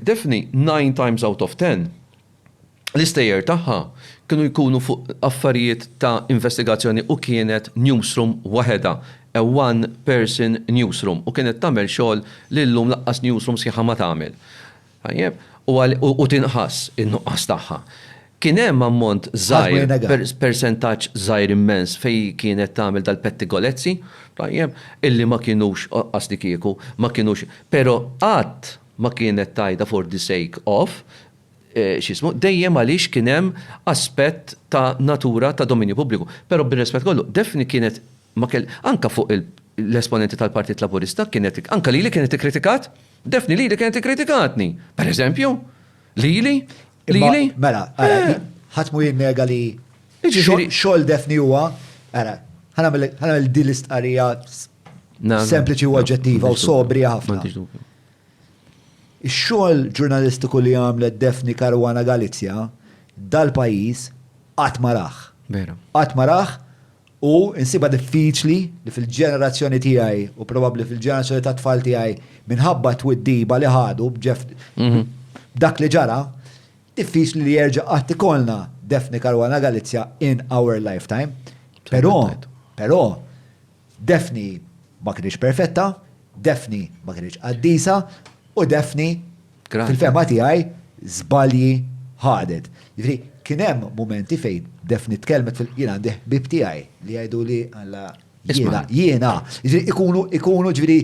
Daphne, nine times out of ten, l-istejjer tagħha kienu jkunu fuq affarijiet ta' investigazzjoni u kienet newsroom waħedha, a one person newsroom, u kienet tagħmel xogħol li llum lanqas newsroom sħiħa ma tagħmel. Tajjeb? U tinħass in-nuqqas tagħha. Kien hemm ammont żgħir, persentaġġ żgħir immens fejn kienet tagħmel dal-pettigolezzi, tajjeb, illi ma kinux, qasdikieku, ma kinux, però qatt, ma kienet tgħidha for the sake of, x'jismu, dejjem għaliex kien hemm aspett ta' natura ta' dominju pubbliku. Però bir-rispett kollu, Daphne kienet ma kell, anke fuq l-esponenti tal-Partit Laburista kienet, anke lili kienet ikkritikat, Daphne lili kienet ikkritikatni, per eżempju, lili, lili. Mela, ara, ħadd mhu jinnega li xogħol Daphne huwa, ara, ħa nagħmel din l-istqarrija Sempliċi u oġġettiva u sobri ħafna. Ix-xogħol ġurnalistiku li għamlet Defni Karwana Galizja dal-pajjiż qatt ma raħ. Qatt ma raħ u insiba diffiċli li fil-ġenerazzjoni tiegħi u probabbli fil-ġenerazzjoni ta' tfal tiegħi minħabba twiddiba li ħadu b'ġef mhm. dak li ġara, diffiċli li jerġa' qatt ikollna Defni Karwana Galizja in our lifetime. Però, però, Daphne ma kinitx perfetta, Daphne ma kinitx qaddisa, u Daphne, fil-fehma tiegħi, żbalji ħadet. Jiġifieri, kien hemm mumenti fejn Daphne tkellmet fil-, jien għandi ħbieb tiegħi li jgħiduli, Alla, jiena, jiena. Jiġifieri, ikunu, ikunu, jiġifieri,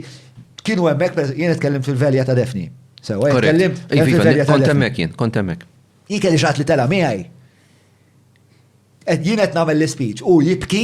kienu hemmhekk, pereżempju, jiena tkellimt fil-velja ta' Daphne. Sewwa, jien tkellimt fil-velja ta' Daphne. Kont hemmhekk jien, kont hemmhekk. Jien kelli xi ħadd li tela' miegħi. Jien qed nagħmel l-ispeech, hu jibki.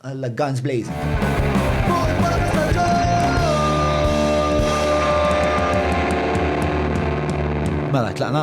Alla guns blazing. Mela tlaqna?